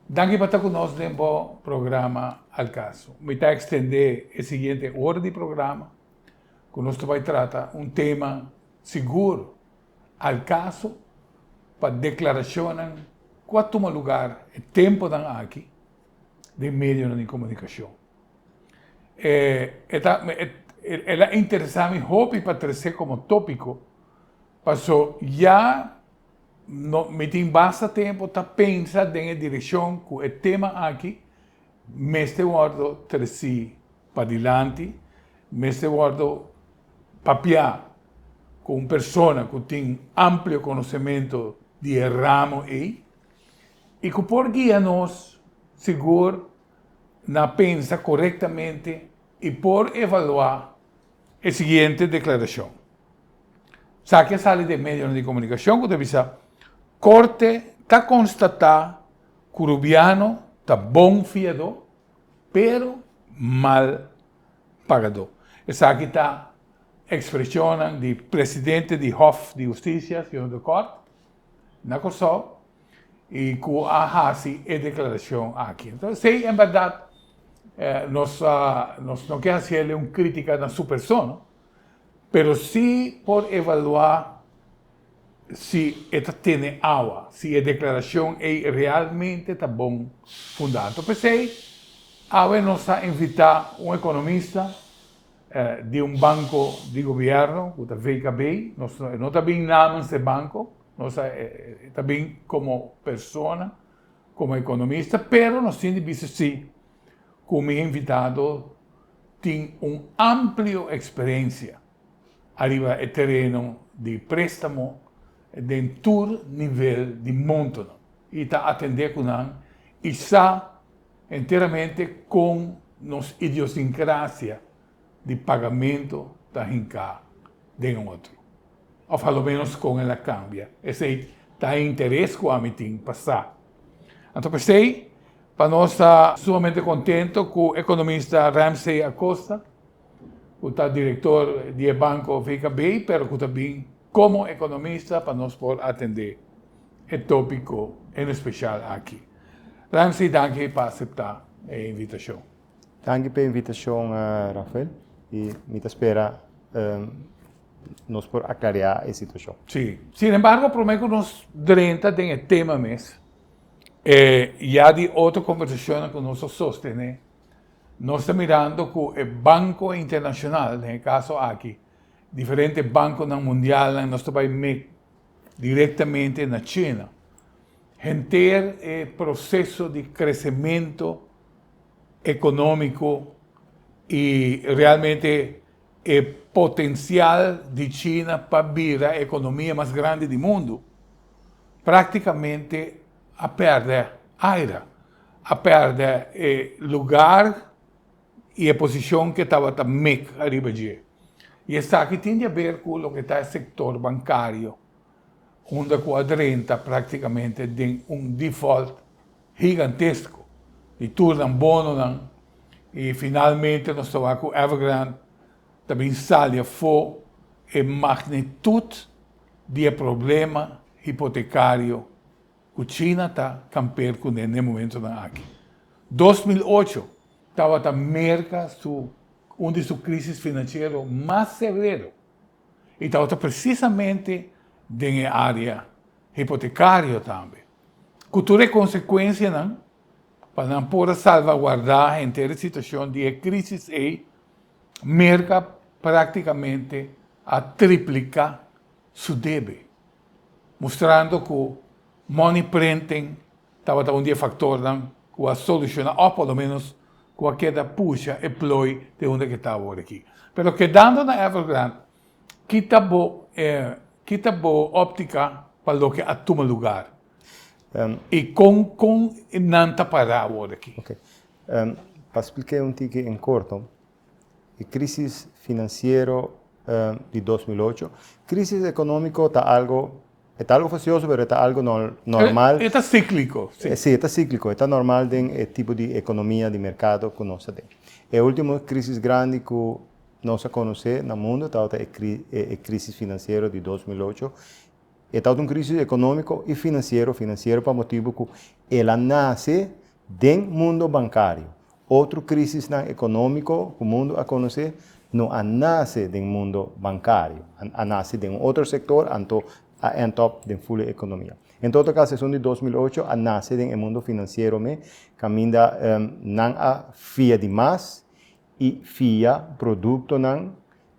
Danki pa ta ku nos den bo programa Al Caso. Mi ta ekstendé e siguiente ora di programa ku nos ta bai trata un tema sigur al caso pa deklarashonnan ku a tuma lugar e tempunan aki den medionan di komunikashon. E e ta el a interesá mi hopi pa tres'é komo tópiko paso ya No, mi tin basta tempo ta pensa den e direccion cu e tema aki mester wordo treci padilanti, mester wordo papia cu un persona cu tin amplio conocemento di e ramo ey y cu por guia nos sigur na pensa corectamente y por evalua e siguiente declaracion. Esaki a sali den medionan di comunicacion cu ta bisa, Corte ta constata cu Rubiano ta bon fiador pero mal pagador. Esaki ta expresionnan di presidente di Hof di Husticia, Señor de Cort, na Corsou, y cu a haci e declaracion aki. Entonces, si en verdad nos, nos no quier hacerle un crítica na su persona, pero si por evalua si e ta tene awa, si e declaracion ey realmente ta bon funda. Entonces, p'esey awe nos a invita un economista di un banco di gobierno, cu ta VKB, nos, e no ta bin namen si e banco, Nos a ta bin komo persona, komo ekonomista, pero nos tin di bisa sí ku mi invitado tin un amplio eksperensia ariba e tereno di préstamo den tur nivel di montonan i ta atendé ku nan i sa enteramente kon nos idiosinkrasia di pagamentu ta hinká den otro, òf a lo ménos kon el a kambia, esei ta e interes ku ami tin pa sa. Anto p'esei pa nos ta sumamente kontentu ku ekonomista Ramsey Acosta, ku ta direktor di e banko VKB pero ku ta bin komo ekonomista pa nos por atendé e tópiko en espesial aki. Ramsey danki pa aseptá e invitashon. Danki p'e invitashon Rafael i mi ta spera nos por a klariá e situashon. Sí. Sin embargo, promé ku nos drenta den e tema mes, e ya di otro kombersashonnan ku nos a sostené, nos ta mirando ku e banko internashonal, den e kaso aki diferente bankonan mundialnan, nos ta bai me direktamente na China, henter e proseso di kresementu, economico y realmente e potencial di China pa bira economia mas grandi di mundo practicamente a perde aira, a perde e lugar y e posicion ke tabata mek ariba dje. Y esaki tin di haber cu loke ta e sector bancario unda cu a drenta practicamente den un default. Higantesko di tur nan bononan y finalmente nos ta wak cu Evergrande ta bin sali afo e magnitud di e problema hipotecario cu China ta camper cune n'e momentonan aki. Dos mil ocho tabata Merca su un di su crisis financiero mas severo. i tabata presisamente den e área hipotekario tambe, ku tur e konsekuensianan pa nan por a salvaguardá henter e situashon di e krísis ei merka práktikamente a tripliká su debe, mustrando ku money printing Tabata un di e faktornan ku a solushoná òf por lo ménos ku a keda pusha e ploi den unda ke ta awor aki. Pero kedando na Evergrande, ki ta bo e ki ta bo òptika pa loke a tuma lugar i kon kon nan ta pará awor aki? Oke. Pa splik'é un tiki en korto, e crisis financiero di dos mil ocho. Crisis economico ta algo, e ta algo facioso pero e ta algo normal. E ta ciclico. Si, e ta ciclico, e ta normal den e tipo di economia di mercado cu nos ta den. E ultimo crisis grandi cu nos a conoce na mundo tabata e crisis financiero di dos mil ocho. E tabata un crisis economico y financiero, financiero pa motibo cu el a nace den mundo bancario. Otro crisisnan economico cu mundo a conoce no a nace den mundo bancario, a nace den un otro sector anto a end up den full e economia. En todo caso esun di dos mil ocho a nace den e mundo financiero me caminda nan a fia di mas i fia produktonan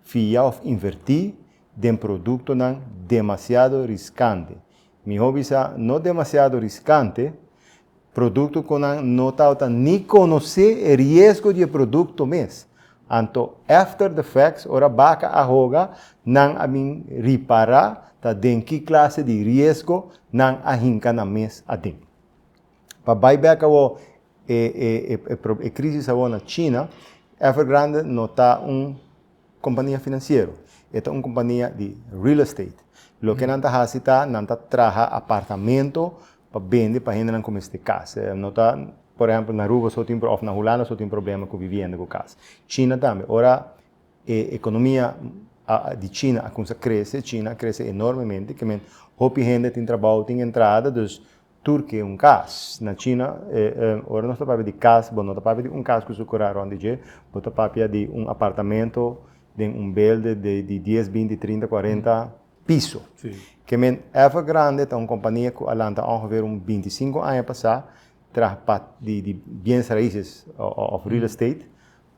fia òf invertí den produktonan demasiado riskante. Mihó bisa no demasiado riskante produkto ku nan no tabata ni konosé e riesgo di e produkto mes. Anto after the facts ora baka a hoga nan a bin ripará ta den ki klase di riesgo nan a hinka nan mes aden. Pa bai bek awor e crisis awor na China, Evergrande no ta un compania financiero, e ta un compania di real estate. Loke nan ta haci ta, nan ta traha apartamento pa bende pa hendenan cu mester cas. No ta, por ehempel, na Aruba so tin, of na Hulanda so tin problema cu vivienda, cu cas. China tambe, ora e economia di China a cuminsa crece, China a crece enormemente, kimin hopi hende tin trabou, tin entrada, dus Tur ki un kas. Na China, ora nos ta papia di kas, bo no ta papia di un kas ku su kura rònt di dje, bo ta papia di un apartamento den un belde de di dies, binti, trinta, kuarenta piso. Ke men, Evergrande ta un kompania ku a lanta ongeveer un binti i sinku aña pasá, traha pa di biens raises òf real estate,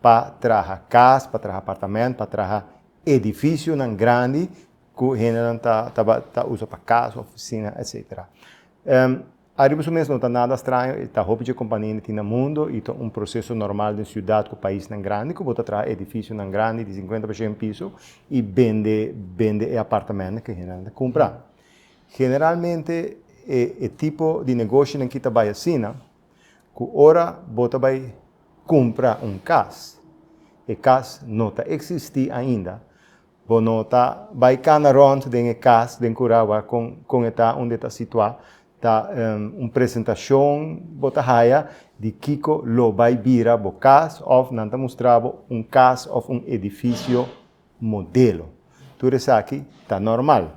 pa traha kas, pa traha apartamento, pa traha edifisionan grandi ku hendenan ta tabata ta usa pa kas, ofisina, etc. Ariba su mes no ta nada straño, e ta hopi dje kompania na tin na mundo i ta un proseso normal den siudat ku paisnan grandi ku bo ta traha edifisionan grandi di sinkuenta pa shen piso i bende bende e apartamentnan ku hendenan ta kumpra. Generalmente e tipo di negoshonan ki ta bai asina, ku ora bo ta bai kumpra un kas, e kas no ta eksistí ainda, Bo no ta bai cana rond den e cas den Curao a con con e ta unda e ta situa, ta un presentacion bo ta haya di kico lo bai bira bo cas of nan ta mustra bo un cas of un edificio modelo. Tur esaki ta normal.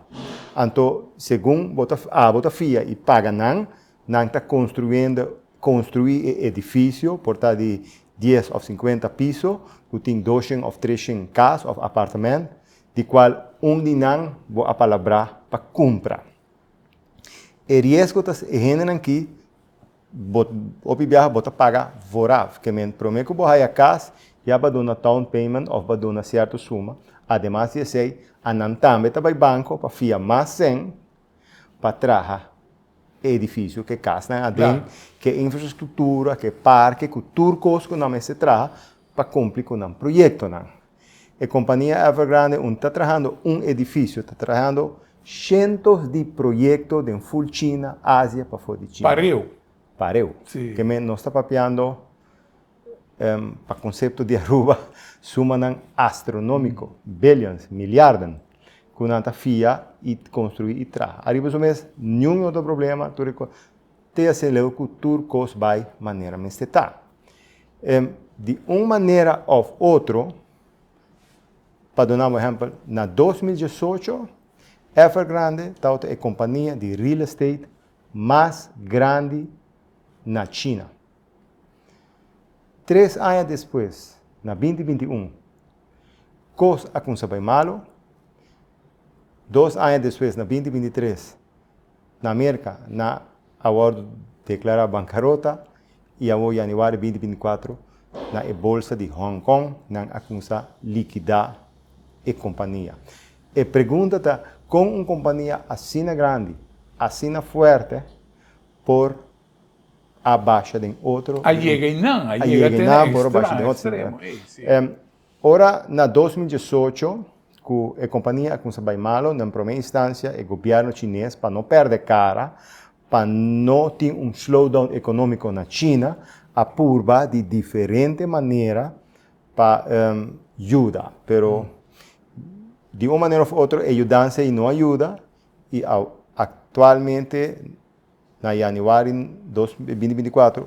Anto segun bo ta abo ta fia y paga nan, nan ta construyendo Konstruí e edifisio por ta di dies òf sinkuenta piso ku tin doshen òf treshen kas òf apartamènt, di kual un di nan bo a palabrá pa kumpra. E riesgo ta e hendenan ki bo hopi biaha bo ta paga vòraf, ke men promé ku bo haya kas ya bo a duna down payment òf bo a duna sierto suma, ademas di esei a nan tambe ta bai banko pa fia mas sèn, pa traha e edifisio, ke kasnan aden, ke infrastruktura, ke parke, ku tur kos ku nan mester traha pa kumpli ku nan proyektonan. E kompania Evergrande un ta trahando un edifisio, ta trahando shentos di proyekto den ful China, Asia, pafó di China. Pareu. Pareu. Si. Ke men nos ta papiando. Pa konsepto di Aruba, sumanan astronómiko, billions, miliarden, ku nan ta fia i konstruí i traha. Ariba su mes, niun otro problema, tur e kos te hasi leu ku tur kos bai manera mester ta. Di un manera òf otro, pa duna bo ehèmpel, na dos mil diesocho, Evergrande tabata e kompania di real estate mas grandi na China. Tres aña despues, na binti binti un, kos a kumsa bai malu. Dos aña despues, na binti binti tres, na Merka na a wòrdu deklará bankarota i awor yanüari binti binti kuatru na e bolsa di Hong Kong nan a kumsa likidá e kompania. E pregunta ta, kon un kompania asina grandi, asina fuerte por a basha den otro. A yega i nan, a yega te na extremo. Ora na dos mil diesocho ku e kompania a kuminsá bai malo, den promé instancia e gobièrnu chines pa no pèrdè kara, pa no tin un slowdown ekonómiko na China, a purba di diferente manera pa yuda. Pero di un manera òf otro e yudansa ei no a yuda i aktualmente. Na Januari dos mil binti binti kuater,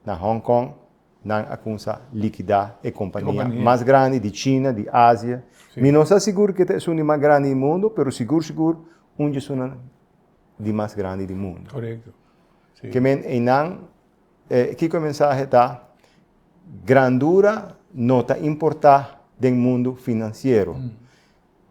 na Hong Kong nan a kumsa likidá e kompania mas grandi di China, di Asia. Mi no sa sigur ke ta esun di mas grandi di mundu, pero sigur sigur un di esunnan di mas grandi di mundu. Korekto. Ke men einan, kiko e mensahe ta? Grandura no ta importá den mundu finansiero.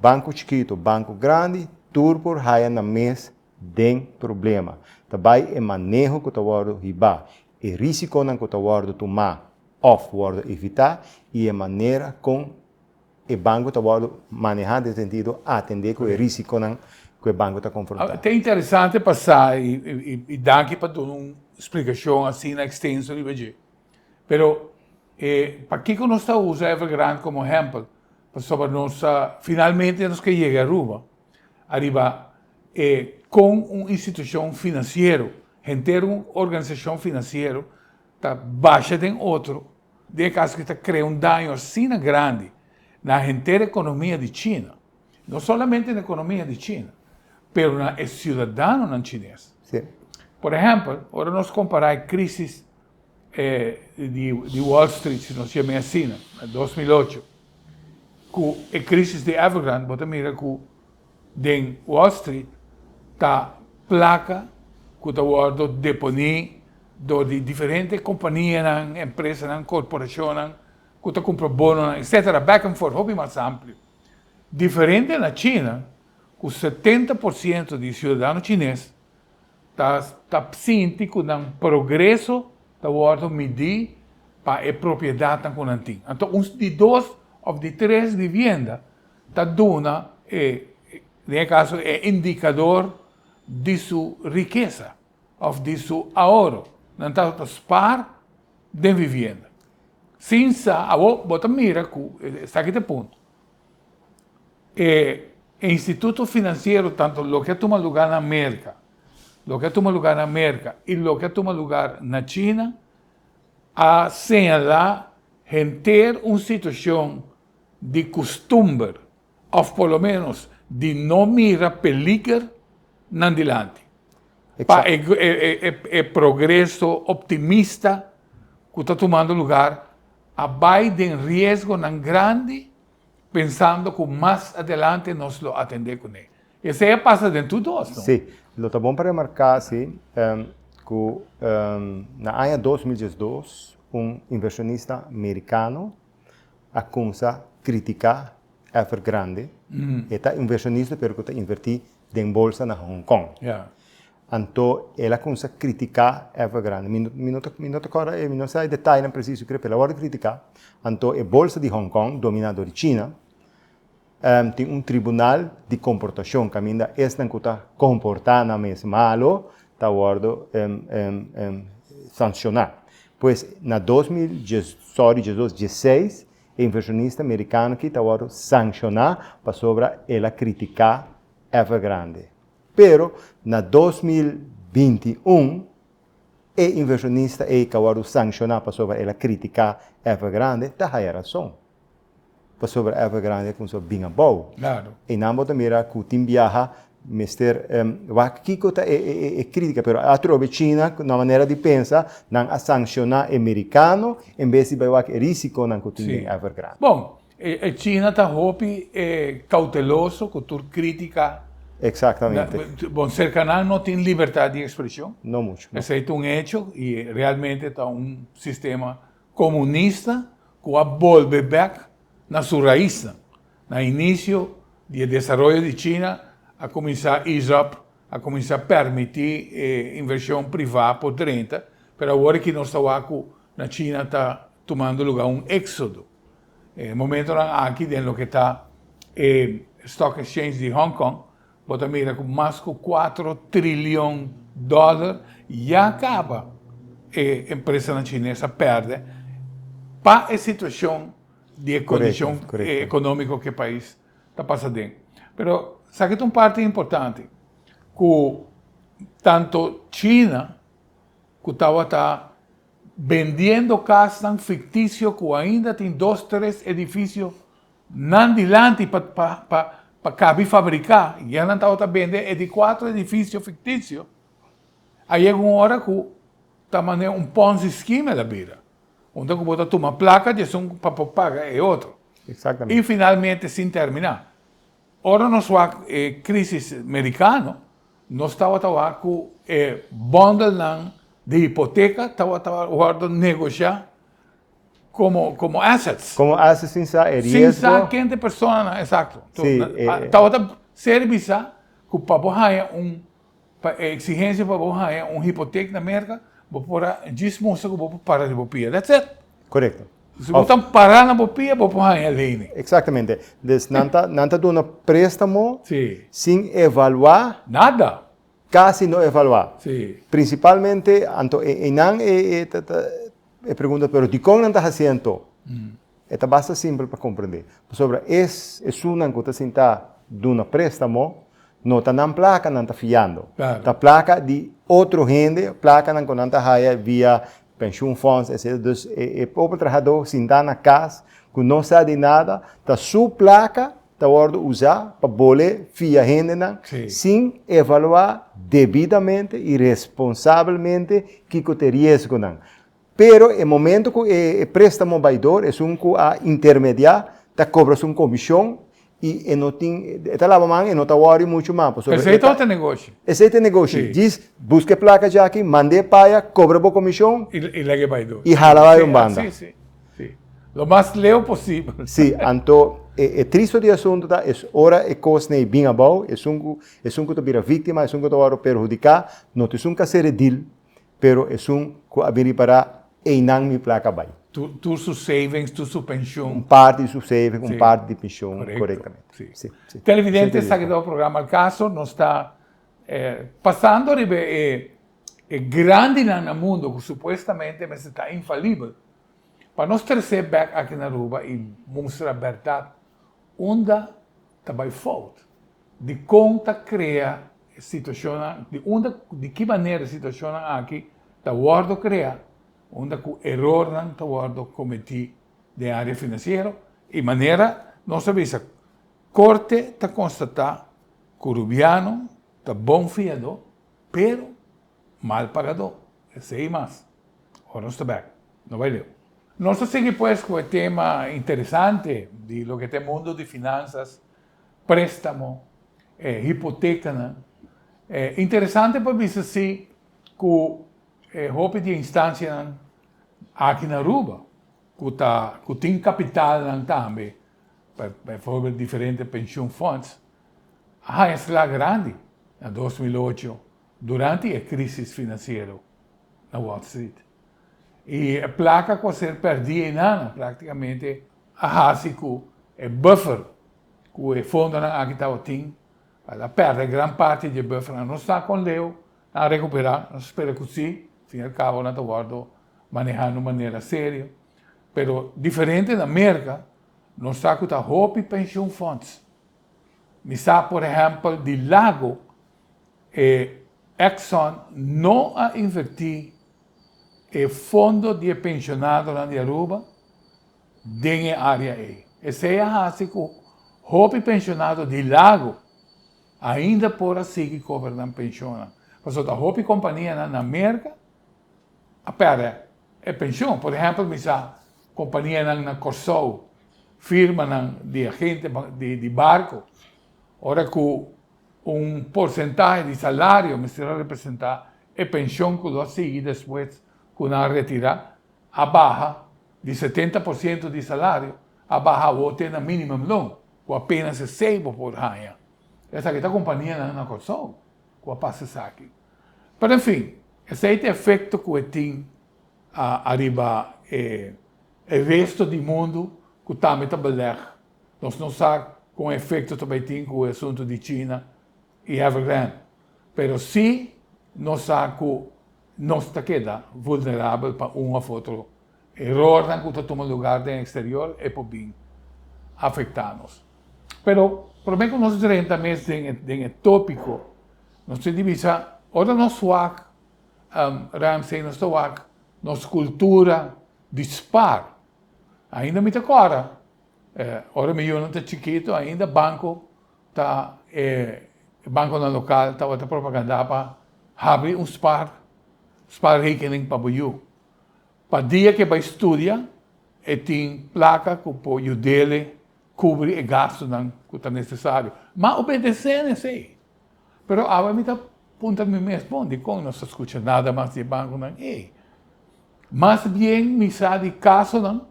Banko chikitu, banko grandi, tur por haya nan mes den problema ta bai e maneho ku ta wòrdu hibá, e risikonan ku ta wòrdu tumá òf wòrdu evitá i e manera kon e banku ta wòrdu manehá den sentido atendé ku e risikonan ku e banku ta konfrontá. Ta interesante pa sa i danki pa duna un splikashon asina ekstenso riba dje. Pero pakiko nos ta usa Evergrande komo ehèmpel? Pasobra nos ta finalmente nos ke yega Aruba. ariba e kon un institushon finansiero henter un organisashon finansiero ta basha den otro den e kaso ki ta krea un daño asina grandi na henter e ekonomia di China, no solamente na e ekonomia di China pero na e siudadanonan chines. Por ehèmpel, ora nos kompará e krisis E di Wall Street, si nos yam'e asina, na dos mil ocho, ku e krisis di Evergrande bo ta mira ku den Wall Street ta plaka ku ta wòrdu deponí dor di diferente kompanianan, empresanan, korporashonnan ku ta kumpra bononan etsetera, back and forth, hopi mas amplio. Diferente na China ku setenta por siento di siudadano chines ta sinti ku nan progreso ta wòrdu midí pa e propiedatnan ku nan tin. Anto un di dos òf di tres vivienda ta duna e, den e kaso, e indikador di su rikesa òf di su ahoro. Nan tabata ta spaar den vivienda sin sa, awor bo ta mira ku esaki ta e punto. E instituto financiero tanto loke a tuma lugar na America, loke a tuma lugar na America y loke a tuma lugar na China a señala henter un situacion di custumber of por lo menos di no mira peliger nan dilanti pa e progreso optimista cu ta tumando lugar a bai den riesgonan grandi pensando ku mas adelante nos lo atendé kuné. Esei a pasa den tur dos, no? Sí. Lo ta bon pa remarká sí ku na aña dos mil diesdos un inversionista merikano a kumsa kritiká Evergrande. E ta inversionista pero ku ta invertí den bolsa na Hong Kong. Anto el a cuminsa critica Evergrande. Mi mi no ta mi no ta corda e mi no sa e detailnan preciso cria pero el a wordo critica. Anto e bolsa di Hong Kong domina door di China em tin un tribunal di comportacion caminda esnan cu ta comporta nan mes malo ta wordo em em em sanciona. Pues na dos mil dies sorry diesdos dieseis e inversionista mericano aki ta wordo sanciona pasobra el a critica Evergrande. Pero na dos mil binti un e inversionista ei ka wòrdu sangshoná pasobra el a kritiká Evergrande, ta haya rason. Pasobra Evergrande a kumsa a bin abou. I nan bo ta mira ku tin biaha mester wak kiko ta e kritika, pero atrobe China na manera di pensa nan a sangshoná e merikano en bes di bai wak e risikonan ku tin den Evergrande. E China ta hopi e cauteloso cu tur critica. Exactamente. Bon, cerca nan no tin libertad di expresion. No mucho, no. Esey ta un hecho y realmente ta un sistema comunista cu a bolbe bek na su raiznan. Na inicio di e desaroyo di China a cuminsa ease up, a cuminsa permiti e inversion priva por drenta, pero awor aki nos ta wak cu na China ta Tumando luga un éksodo e momentonan aki den loke ta e Stock Exchange di Hong Kong, bo ta mira ku mas ku kuater trilion dòler ya kaba e empresanan chines a pèrdè pa e situashon di e kondishon ekonómiko ku e pais ta pasa den. Pero sa ki ta un parti importante, ku tantu China ku tabata. Bendiendo casnan ficticio cu ainda tin dos tres edificio nan dilanti pa cabi fabrica, ya nan tabata bende e di cuatro edificio ficticio, a yega un ora cu ta mane un ponzi scheme el a bira, unda cu bo ta tuma placa di esun pa por paga e otro, y finalmente sin termina. Ora nos wak e crisis mericano, nos tawata wak cu e bondelnan di hipoteca tawata wordo negocia como, como assets. Como assets sin sa e riesgo. Sin sa kende personanan, exacto. Si, e. Tawata ser bisa cu pa bo haya un. Pa e exigencia pa bo haña un hipotek na Merka, bo por a djis mustra cu bo por para di bo pia. That's it! Correcto. Si bo ta para na bo pia, bo por haña leynan. Exactamente. Des nan ta, nan ta duna prestamo sin evalua. Nada! Casi no evalua. Principalmente, anto, e, einan e, e, ta, ta, e pregunta, pero dicon nan ta haci anto? E ta basta simpel pa komprendé, pasobra es esunnan ku ta sintá duna préstamo no ta nan plaka nan ta fiando. Ta plaka di otro hende, plakanan ku nan ta haya via penshunfòns, etcétera. Dus e pobre trahadó sintá na kas ku no sa di nada, ta su plaka ta wòrdu usá pa bol'é fia hendenan sin evaluá debidamente i responsabelmente kiko ta e riesgonan. Pero e momento cu e prestamo bay door, esun cu a intermedia ta cobra su comision y e no tin, e ta laba man, e no ta worry mucho mas, pasobra. Esey todo ta negoshi. Esey ta negoshi, djis busca e placa dje aki, manda e paya, cobra bo comision. Y lega e bay door. Y hala bay un banda. Si, si, si. Lo mas leu posibel. Si, anto e tristo di e asunto ta es ora e cos n'ey bin abao, esun cu, esun cu ta bira victima, esun cu ta wordo perhudica, no ta esun ca ser edil. pero esun cu a bin ripara eynan mi placa bay. Tur su savings, tur su pension. Un parti di su savings, un parti di pension, corectamente. Si, si. Televidente, esaki ta bo programa El Caso. Nos ta pasando riba e grandinan na mundo cu supuestamente mester ta infalibel. Pa nos trece bek aki na Aruba y mustra berdad unda. ta bai fout, dikon ta krea e situashonnan, di unda ku, di ki manera e situashonnan aki ta wòrdu krea unda ku erornan ta wòrdu kometí den área finansiero i manera nos a bisa Korte ta konstatá ku Rubiano ta bon fiadó. Pero, mal pagadó, esei mas. Ora nos ta bèk, no bai leu. Nos ta sigui pues ku e tema interesante di loke ta e mundo di finansas, préstamo, e hipotekanan. E interesante pa bisa si ku e hopi di e instansianan aki na Aruba ku ta ku tin kapitalnan tambe, befòrber diferente penshun fònds, Haña sla grandi na dos mil ocho durante e crisis financiero na Wall Street y e placa cu a ser perdi eynana practicamente a haci cu e buffer cu e fondonan aki tabatin a la perde gran parti dje buffer. Nan no sa con leu nan a recupera, nos spera cu si, fin al cabo nan ta wordo maneha nun manera serio, pero diferente na Merca no sa cu ta hopi pensioenfonds. Mi sa por ehempel di lago e Exxon no a inverti e fondo di e pensionadonan di Aruba den e area ei. Esei a hasi cu hopi pensionado di lago ainda por a sigui cobra nan pensionnan, pasobra ta hopi companianan na Merca a perde. E penshon, por ehèmpel mi sa kompanianan na Kòrsou, firmanan di agentenan di barko, ora ku un porsentahe di salario mester a representá e penshon ku lo a sigui despues ku nan a retirá, a baha di setenta por siento di salario, a baha awo te na minimum loan ku apénas esei bo por haña. Esaki ta kompanianan na Kòrsou ku a pasa esaki. Pero en fin, esei ta e efecto cu e tin ariba e resto di mundo cu tambe ta beleg. Nos no sa con efecto ta bay tin cu e asunto di China y Evergrande, pero si nos sa cu nos ta keda vulnerabel pa un of otro. Erornan ku ta tuma lugar den eksterior e por bin afektá nos. Pero promé ku nos drenta mes den e tópiko, nos tin di bisa ora nos wak, Ramsey nos ta wak nos kultura dispar. Ainda mi ta kòrda ora mi yunan ta chikitu ainda banko ta e bankonan lokal tabata propagandá pa habri un spar, sparrekening pa bo yu. Pa dia ke bai studia e tin plaka ku por yud'ele kubri e gastunan ku ta nesesario. M'a obedes'é na esei. Pero awe mi ta punta mi mes bon, dikon nos ta skucha nada mas di e bankunan ei? Mas bien mi sa di kasonan,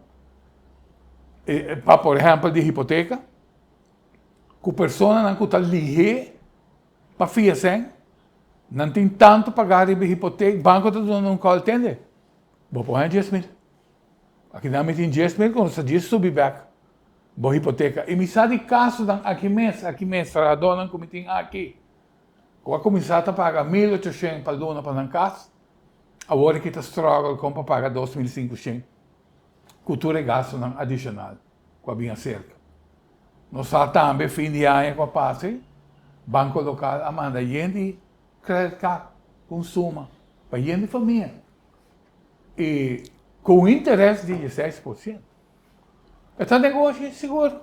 pa por ehèmpel di hipoteka, ku personanan ku ta lih'é Pa fia esei, nan tin tantu pagá riba e hipotek, banko ta duna nan un kòl, Tende, bo por haña dies mil. Akinan mi tin dies mil ku nos ta djis subi bèk bo hipoteka. I mi sa di kasunan aki mes, aki mes, trahadónan ku mi tin aki, ku a kuminsá ta paga mil ochoshen pa luna pa nan kas, awor aki ta strògel kon pa paga dos mil sinku shen, ku tur e gastunan adishonal. ku a bin aserka. Nos sa tambe fin di aña ku a pasa ei banko lokal a manda yen di credit card ku un suma pa yen di famia i ku un interes di dieseis por ciento. E ta negoshi sigur,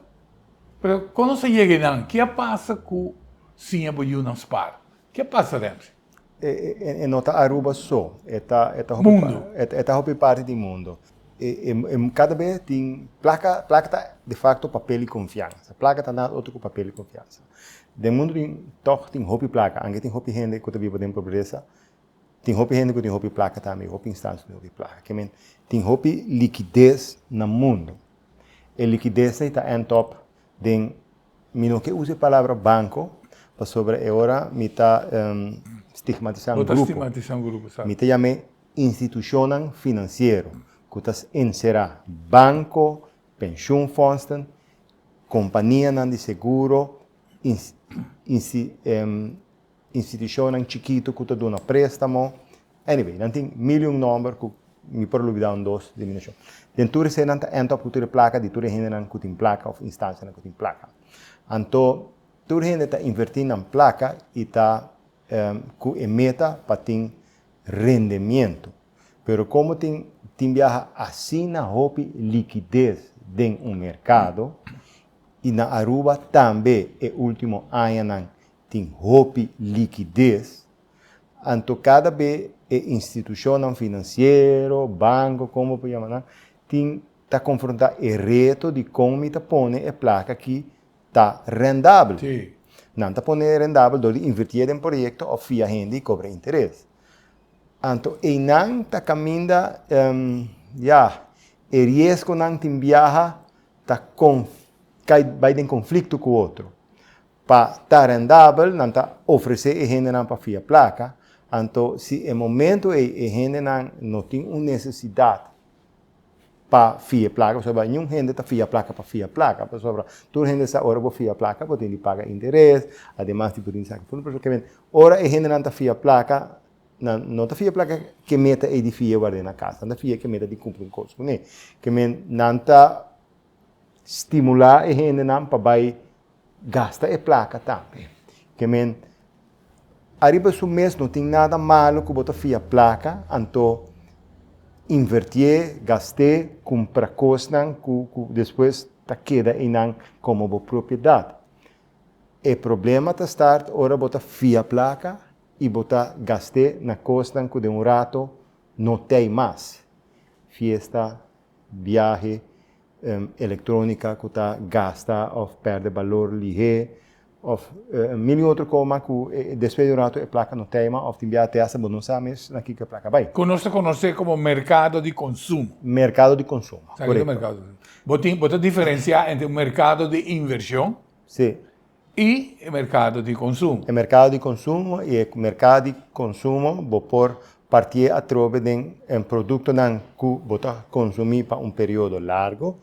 pero kon nos a yega ei nan? Ke a pasa ku siña boyunan spar? Ke a pasa dentre? E, e, e, e no ta Aruba so, e ta, e ta hopi, mundo. Pa, e, e ta hopi parti di mundo. E, e, e cada be tin placa, placa ta de facto papel di confianza. Placa ta nada otro cu papel di confianza. Den mundo tin, toch tin hopi placa, anke tin hopi hende cu ta biba den pobreza, tin hopi hende cu tin hopi placa tambe, hopi instancia cu tin hopi placa. Ke men, tin hopi liquidez na mundo. E liquidez ta end up. Den, mi no ke usa e palabra banko, pasobra e ora mi ta stigmatisá un grupo. Mi ta yam'é institushonnan finansiero ku ta enserá banko, penshunfondsten, kompanianan di seguro, Institucionnan chikitu ku ta duna préstamo. Anyway, nan tin mil i un nòmber ku mi por lubidá un dos di mi no shon. Den tur esei nan ta end up ku tur e plaka di tur e hendenan ku tin plaka òf instancianan ku tin plaka. Anto tur hende ta invertí nan plaka i ta ku e meta pa tin rendemientu. Pero komo tin tin biaha asina hopi likides den un merkado i na Aruba tambe e último añanan tin hopi likides, anto kada be e institushonnan finansiero, banko, kon bo por yama nan, tin ta konfrontá e reto di kon mi ta pone e plaka ki ta rendabel. Sí. Nan ta pone rendabel dor di invertié den proyekto òf fia hende i kobra interes. Anto einan ta kaminda, ya, e riesgonan tin biaha ta kon kai bai den konflikto ku otro. Pa ta rendabel nan ta ofresé e hendenan pa fia plaka, anto si e momentu ei e hendenan no tin un nesesidat pa fia e plaka, pasobra ningún hende ta fia plaka pa fia plaka, pasobra tur hende sa ora bo fia plaka bo tin di paga interes, ademas di bo tin di saka funda, pasobra kimente ora e hendenan ta fia plaka nan no ta fia plaka ke meta ei di fia ward'é na kas, nan ta fia ke meta di kumpli un kos kuné, kimen nan ta. Stimulá e hendenan pa bai gasta e plaka tambe. Ke men, ariba su mes no tin nada malu ku bo ta fia plaka, anto invertié, gast'é, kumpra kosnan ku ku despues ta keda einan komo bo propiedat. E problema ta start ora bo ta fia plaka i bo ta gast'é na kosnan ku den un rato no t'ei mas. Fiesta biahe, electronica cu ta gasta of perde balor lihe of mili otro coma cu despues di un rato e placa no ta ema of tin biaha te hasta bo no sa mes na kico e placa bay. Cu nos ta conoce como mercado di consumo. Mercado di consumo, corecto. Bo ta diferencia entre un mercado di inversion I e merkado di konsumo. E merkado di konsumo i e merkado di konsumo bo por partié atrobe den e produktonan ku bo ta konsumí pa un periodo largu,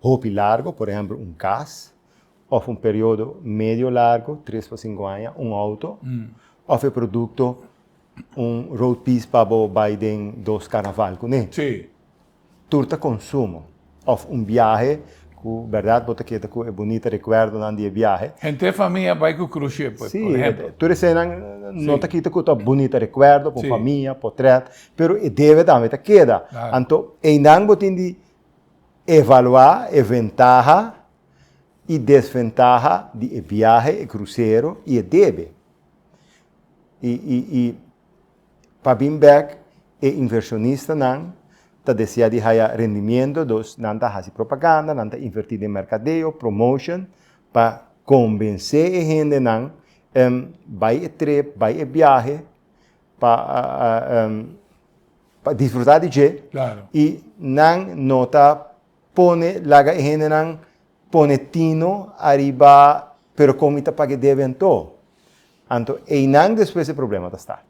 hopi largu, por ehèmpel un kas, òf un periodo medio largu, tres pa sinku aña, un outo, òf e produkto, un road piece pa bo bai den dos karnaval kuné. Sí. Tur ta konsumo òf un biahe ku bèrdat bo ta keda ku e bunita rekuerdonan di e biahe. Henter famia bai ku krushe, por ehempel. Si, tur esenan no ta kita ku ta un bunita rekuerdo pa un famia, potrèt, pero e debe tambe ta keda. Anto einan bo tin di evaluá e ventaha i desventaha di e biahe, e krusero i e debe. I Pa bin bek e invershonistanan ta desea di haya rendimiento, dus nan ta hasi propaganda, nan ta invertí den merkadeo, promotion, pa kombensé e hendenan em bai e trip, bai e biahe pa pa disfrutá di dje i nan no ta pone laga e hendenan Pone tino ariba pero con mi ta pague debe anto? Anto einan despues e problema ta start.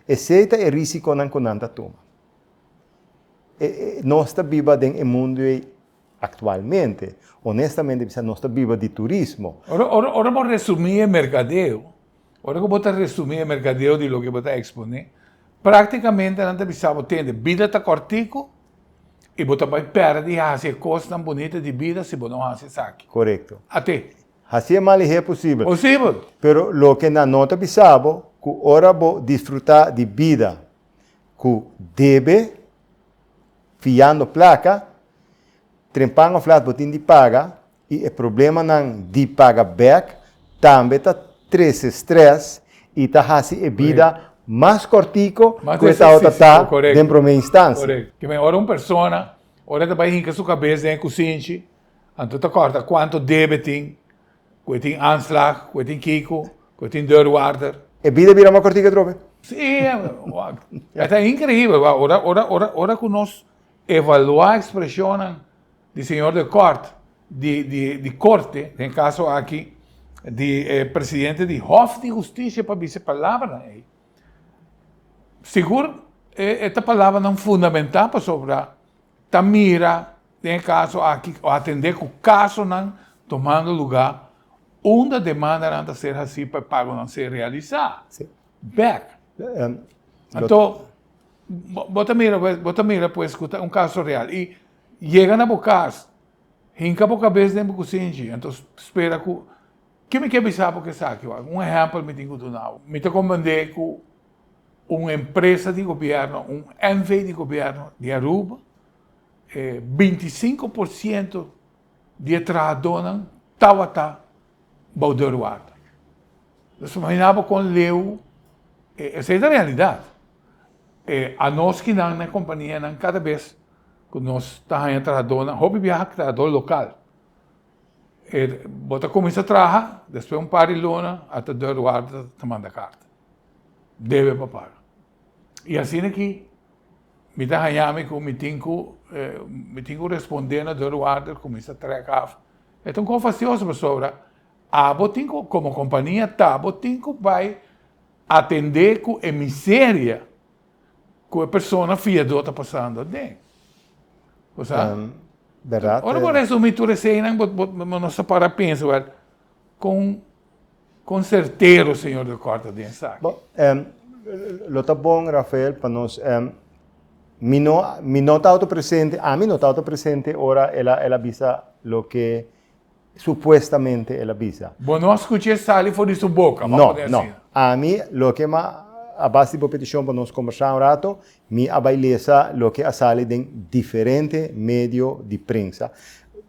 Esey ta e risiconan cu nan ta tuma. E e nos ta biba den e mundo ey actualmente. Honestamente bisa nos ta biba di turismo. Ora ora ora bo resumi e mercadeo. Ora ku bo ta resumí e merkadeo di loke bo ta eksponé, práktikamente nan ta bisa bo, Tende, bida ta kòrtiku i bo ta bai pèrdè hasi e kosnan bunita di bida si bo no hasi esaki. Korekto. At'é. Hasi e mal i h'é posibel. Posibel. Pero loke nan no ta bisa bo, ku ora bo disfrutá di bida ku debe, fiando plaka, trempan òf lat bo tin di paga, y e problemanan di paga bek tambe ta trece stress y ta haci e bida mas cortico cu e tabata ta den prome instancia. Dime, ora un persona ora e ta bay hinca su cabes den e cusinchi anto ta corta cuanto debe e tin, cu e tin aanslag, cu e tin kico, cu e tin deurwaarder. E bida bira mas cortico atrobe. Sí, esta increíbel, ora cu nos evalua expresionnan. di señor de kort di di korte den e kaso aki di e presidente di hof di hustisia pa bisa e palabranan ei sigur e ta palabranan fundamenta pasobra ta mira den e kaso aki o atende ku kasonan tomando luga unda demandanan ta ser hasi pa e pagonan ser realisa bèk anto bo ta mira bo ta mira pues ku ta un kaso real i Yega na bo cas, hinca bo cabes den bo cusinchi, entos spera cu, Ke mi ke bisa bo cu esaki? Wak un ehempel mi tin cu duna bo. Mi ta comprende cu un empresa di gobierno, un NV. di gobierno di Aruba, e binti sinku por ciento di e trahadonan tawata bou deurwater. Nos imagina bo con leu, esei ta realidad. E anoskinan na e kompanianan kada bes ku nos ta haña trahadónan, hopi biaha trahadó lokal, e bo ta kuminsá traha, despues un par di luna a ta dor warda ta manda karta, debe pa paga. I asina aki mi ta haña mi ku mi tin ku mi tin ku respondé na dor warda kuminsá trèk af. E ta un kos fastioso pasobra abo tin ku komo kompania ta bo tin ku bai Atendé ku e miseria ku e persona fiadó ta pasando aden. Bo sa? Ora bo resumí tur e seinan, bo no sa para pensa, wèl, kon sertero Señor ta kòrta den esaki? Bo, lo ta bon, Rafael, pa nos, mi no, mi no tabata presente, ami no tabata presente ora el a, el a bisa loke. Supuestamente el a bisa. Bo no a scuch'é sali for di su boca, bo a pone asina. No, no. Ami, loke ma, a base di bo peticion pa nos combersa un rato, mi a bai lesa loke a sali den diferente medio di prensa.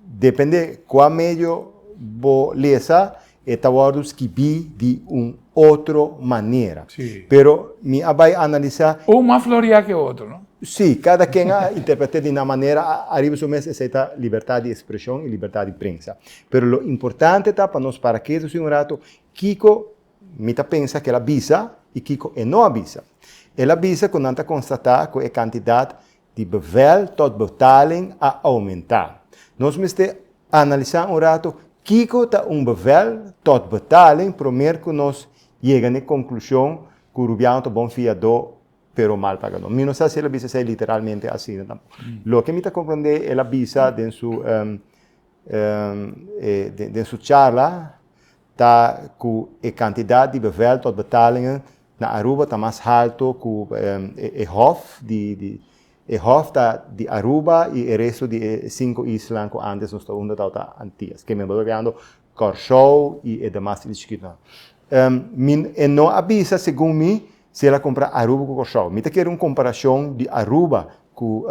Depende cua medio bo lesa, e ta wordo scibi di un. otro manera. Sí. Pero mi a bai analisá. Un mas floriá ke otro, no? Sí, kada ken a interpret'é di nan manera ariba su mes, esei ta libertat di ekspreshon i libertat di prensa. Pero lo importante ta pa nos para ketu así un ratu, kiko mi ta pensa ku el a bisa i kiko e no a bisa. El a bisa ku nan ta konstatá ku e kantidat di bevel tot betaling a oumentá. Nos mester analisá un ratu kiko ta un bevel tot betaling promer ku nos yega na e konklushon ku Rubiano ta bon fiadó pero mal pagadó. Mi no sa si el a bisa esei literalmente asina tampoco. Loke mi ta komprendé el a bisa den su den su charla. Ta cu e cantidad di bevel tot betalingen na Aruba ta mas halto cu e hof di e hof ta di Aruba y e resto di e cinco islan cu antes nos ta unda tau ta Antillas ke men bo ta gando Corshou y e demas isla chiquitonan. Min e no a bisa segun mi. Si el a compra Aruba cu Corsou. Mi ta kere un comparacion di Aruba cu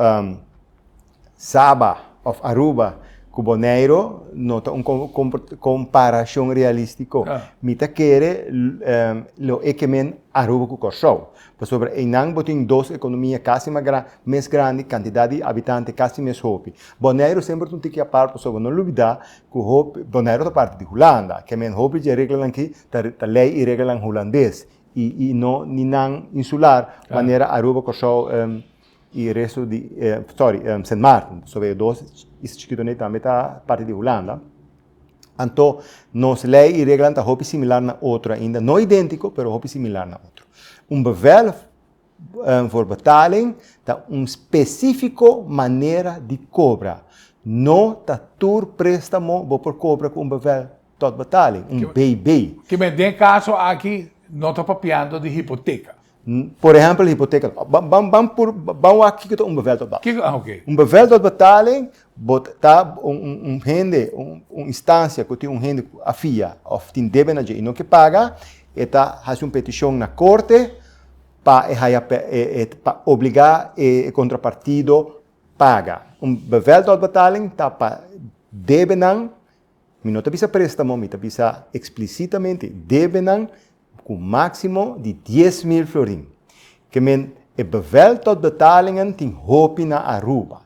Saba of Aruba cu Boneiro no ta un comparacion realistico. Mi ta kere lo e kemen Aruba cu Corsou. Pasobra eynan bo tin dos economia casi mes grandi, cantidad di habitante casi mes hopi. Boneiro semper ta un tiki apart pasobra no lubida cu Boneiro ta parti di Hulanda. Kemen hopi dje reglanan aki ta ley y reglanan Hulandes y y no ni nan insular manera Aruba Curaçao em y resto di eh sorry Sint Maarten pasobra ellos dos is chikitonan tambe ta parti di Hulanda anto nos ley y reglanan ta hopi similar na otro ainda no identico pero hopi similar na otro un bevel voor betaling ta un specifico manera di cobra no ta tur prestamo bo por cobra cu un bevel Tot betaling, un BB. Kibe den kaso aki no ta papiando di hipoteka. Por ehempel di hipoteka. Ban pur, ban wak kiko ta un bevel tot betaling. Kiko, oké. Un bevel tot betaling, bo ta un hende, un instansia ku tin un hende ku a fia òf tin debe na dje i no ke paga, e ta hasi un petishon na korte pa e haya, pa obligá e kontrapartido paga. Un bevel tot betaling ta pa debenan. Mi no ta bisa préstamo, mi ta bisa eksplisitamente debenan ku máksimo di dies mil florin. Ke men e bevel tòt betalingen tin hopi na Aruba.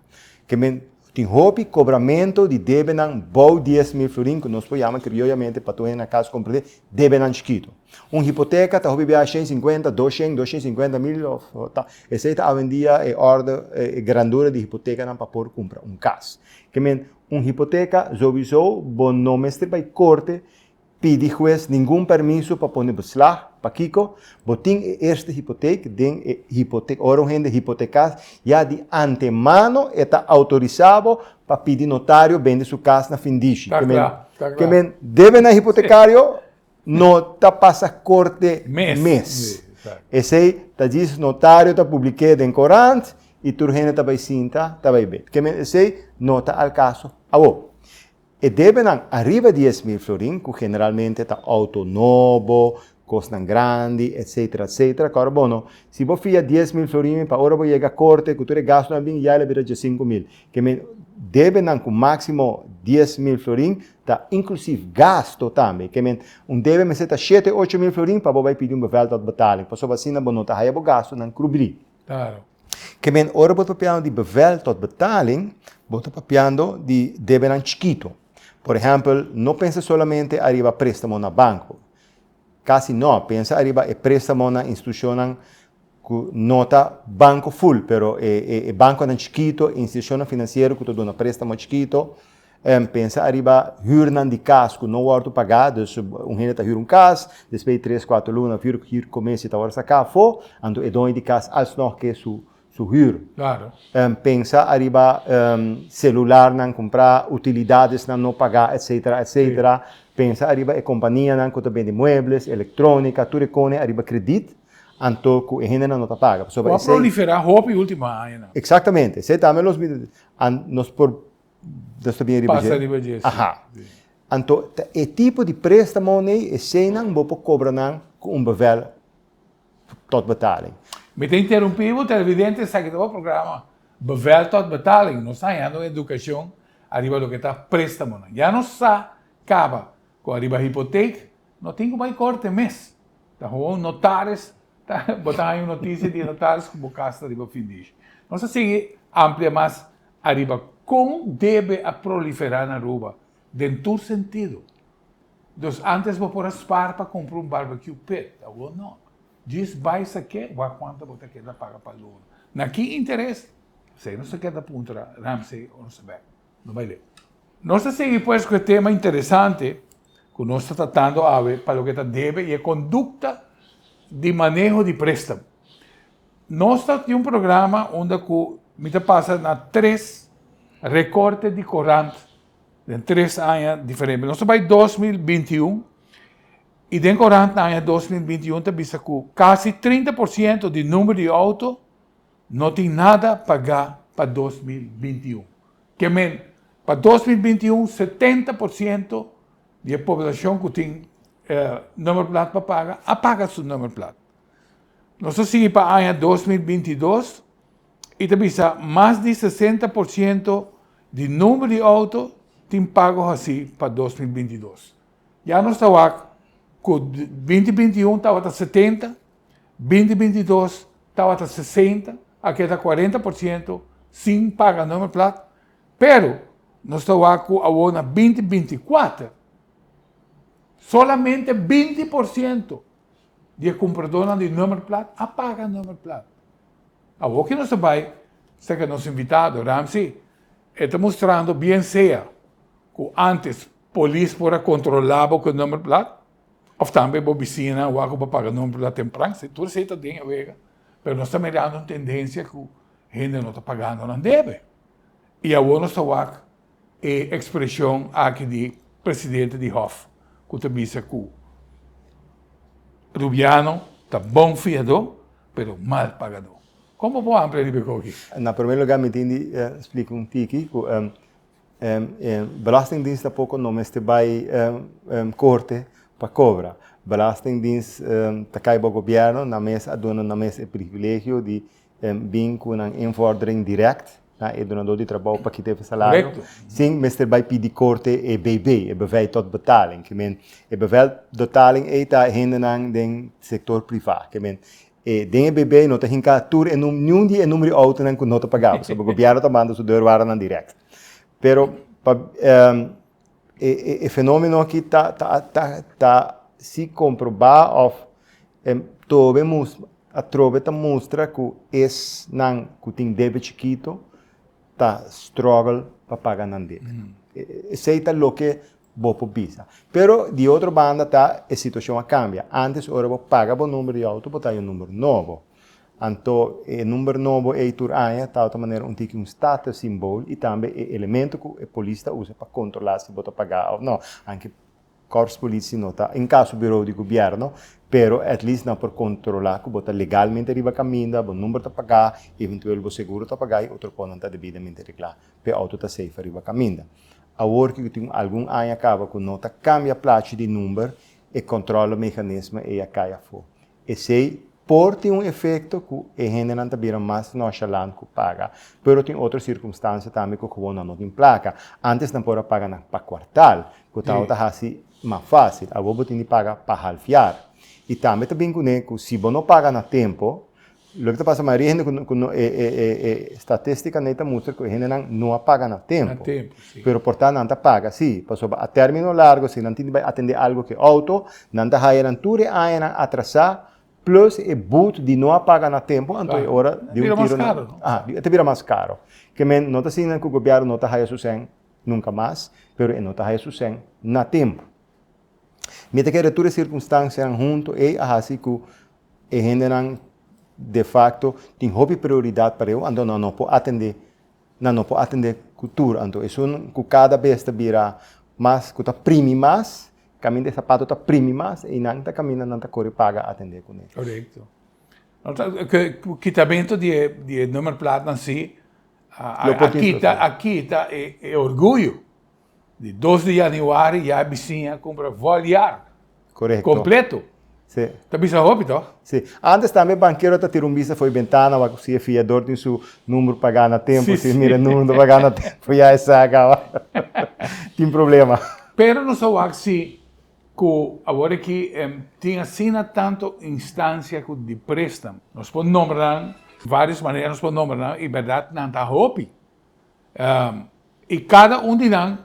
Ke men tin hopi kobramentu di debenan bou dies mil florin ku nos por yama krioyamente pa tur hende na kas komprendé debenan chikitu. Un hipoteka ta hopi bia shen sinkuenta, dos shen, dos shen sinkuenta mil òf ta esei ta awendia e òrdu, e grandura di hipotekanan pa por kumpra un kas. Ke men Un hipoteka, Sowiso bo no mester bai korte pidi hues ningun permiso pa pone beslag, pakiko? Bo tin e eerste hipotek den e hipotek, ora un hende hipotekas ya di antemano e ta outorisa bo pa pidi notario bende su kas na findishi, ke men debe na hipotekario No ta pasa korte mes. Esei ta djis notario ta publik'é den korant i tur hende ta bai sinta, ta bai be. Ke men esei no ta al kaso awo. E debenan ariba dies mil florin, ku generalmente ta outo nobo, kosnan grandi, etsetera, etsetera, kòrda bono, si bo fia dies mil florin mi pa ora bo yega korte ku tur e gastunan a bini ya el a bira djasinku mil. Ke men debenan ku máksimo dies mil florin. Ta inclusief gasto tambe. Ke men, un debe mester ta shete ocho mil florin pa bo bai pidi un beveldotbetaling, pasobra asina bo no ta haya bo gastonan krubri. Claro. Ke men, ora bo ta papiando di beveldotbetaling, bo ta papiando di debenan chikito. Por ehempel, no pensa solamente ariba prestamo na banco. Casi no. Pensa ariba e prestamo na institucionnan cu no ta banco full, pero e e banconan chikito, e institucionnan financiero cu ta duna prestamo chikito. Em, pensa ariba hürnan di cas cu no wordo pagá. Dus, un hende ta hür un cas, despues di tres, cuater luna, hür, hür comes y ta wordo sacá afó, anto e doño di cas alsnog ke su, su hür. Claro. Em pensa ariba em celularnan cumpra, utilidadesnan no paga, etcetera, etcetera. Si. Pensa ariba e companianan cu ta bendi muebles, electronica, tur e cone ariba credit, anto cu e hendenan no ta paga. Pasobra esey. Cu a prolifera hopi ultima añanan. Exactamente. Esey tambe los mi an nos por nos ta bin ariba dje. Pasa ariba dje, si. Aha. Si. Anto ta e tipo di prestamonan eseynan bo por cobranan cu un bevel tot betaling. Mi ta interumpí bo televidente esaki ta bo programa Bevel tot betaling. Nos ta hañando un educacion ariba loke ta prestamonan. Ya nos sa caba cu ariba hipoteek no tin cu bay corte mes. Ta gewoon notaris ta bo ta haña un noticia di e notaris cu bo cas ta riba fin di ish. Nos ta sigui amplia mas ariba con debe a proliferá na Aruba den tur sentido. Dus antes bo por a spar pa cumpra un barbecue pit, awor no. Djis bai sa ke wak cuanta bo ta keda paga pa loan. Na ki interes? Esei nos ta keda puntra Ramsey o nos a bek. No bai leu. Nos ta sigui pues cu e tema interesante cu nos ta tratando awe pa loke ta debe y e conducta di maneho di prestamo. Nos ta tin un programa unda cu mi ta pasa na tres recorte di corant. den tres aña diferente. Nos ta bai 2021 y den corant na aña 2021 ta bisa cu casi 30% di numero di auto no tin nada paga pa 2021. Ke men, pa 2021 70% di e poblacion cu tin numero plat pa paga a paga su numero plat. Nos ta sigui pa aña dos mil binti i dos i ta bisa mas di sesenta por siento di number di outo tin pago hasí pa dos mil binti i dos. Ya nos ta wak ku binti binti un tabata setenta, binti binti dos tabata sesenta, a keda kuarenta por siento sin paga number plat, pero nos ta wak ku awor na binti binti kuater solamente binti por siento, di e cumpradornan di nummerplaat a paga nummerplaat. Awor que nos ta bay cerca nos invitado Ramsey e ta mostrando bien sea cu antes polis por a controla bo cu e nummerplaat of tambe bo bicina a wak cu bo a paga nummerplaat tempran si tur esey ta den e wega pero nos ta mirando un tendencia cu hende no ta pagando nan debe y awor nos ta wak E ekspreshon aki di presidente di Hof ku ta bisa ku Rubiano ta bon fiadó pero mal pagadó. Kon bo por amplia riba e gou aki? Na promé lugá mi tin di splika un tiki ku e belastingdins tampoco no mester bai korte pa kobra. Belastingdins ta kai bou gobièrnu, nan mes a duna nan mes e privilegio di bin ku nan invordering dirèkt na e dunadó di trabou pa kita e salario sin mester bai pidi korte e BB, e Bevel tot Betaling. Ke men, e Bevel tot Betaling ei ta hendenan den sektor privá. Ke men, e den e BB no ta hinká tur e num, niun di e numeri outonan ku no ta pagá, pasobra gobièrnu ta manda su deurwaardenan dirèkt. Pero, pa. E e e fenomeno aki ta ta ta ta si comproba of em tobe mus atrobe ta mustra cu esnan cu tin debe chikito ta struggle pa paga nan debe. Esey ta loke bo por bisa. Pero di otro banda ta e situacion a cambia. Antes ora bo paga bo number di auto bo ta haña un number nobo. Anto e number nobo ei tur aña ta otra manera un tiki un status symbol y tambe e elemento cu e polis ta usa pa controla si bo ta paga of no, aunke Corps Politie no ta un caso bureau di gobierno, pero at least nan por controla cu bo ta legalmente riba caminda, bo number ta paga, eventueel bo seguro ta paga y otro cosnan ta debidamente regla pa e auto ta safe riba caminda. Awor cu tin un algun aña caba cu no ta cambia plachi di number, e controle mecanisme ei a cay afo. Esei por tin un efekto ku e hendenan ta bira mas nòshalant ku paga, pero tin otro sirkumstansia tambe ku gewoon nan no tin plaka. Ántes nan por a paga nan pa kuartal, ku ta wòrdu ta hasi mas fásil. Awor bo tin di paga pa halfiar. I tambe ta bin kuné ku si bo no paga na tempu, Loke ta pasa Maria hende ku no e e e e statistika nei ta mustra ku e hendenan no a paga na tempu. Na tempu, si. Pero por ta nan ta paga si, pasobra a término largo si nan tin di bai atendé algu ku e outo, nan ta haya nan tur e añanan atrasá plus e but di no a paga na tempu anto e ora di un tiro nan. Karo. Aha, e ta bira mas karo. Ke men no ta siña ku gobièrnu no ta haya su sèn nunka mas, pero e no ta haya su sèn na tempu. Mi ta kere tur e sirkunstansianan huntu ei a hasi ku E hendenan de facto tin hopi prioridad pa reu, anto nan no por atende, nan no por atende cu tur. Anto esun cu cada bes ta bira mas, cu ta primi mas, caminda e sapato ta primi mas, y nan ta caminda nan ta core paga atende cune. Correcto. Cu kitamento di e, di e nummerplaatnan si, a, a, a kita, a kita e, e orguyo. Di dos di Januari ya a bisiña cumpra Voliark completo. Si. Ta bisa hopi toch? Si. Antes tambe banquero ta tira un bista fo'i bentana wak si e fiador tin su number paga na tempo. Si. Si mira e number no ta paga na tempo ya e sa akaba. Tin problema. Pero nos a wak si cu awor aki tin asina tanto instancia cu di prestam. Nos por nombra nan varios manera nos por nombra nan y berdad nan ta hopi. I kada un di nan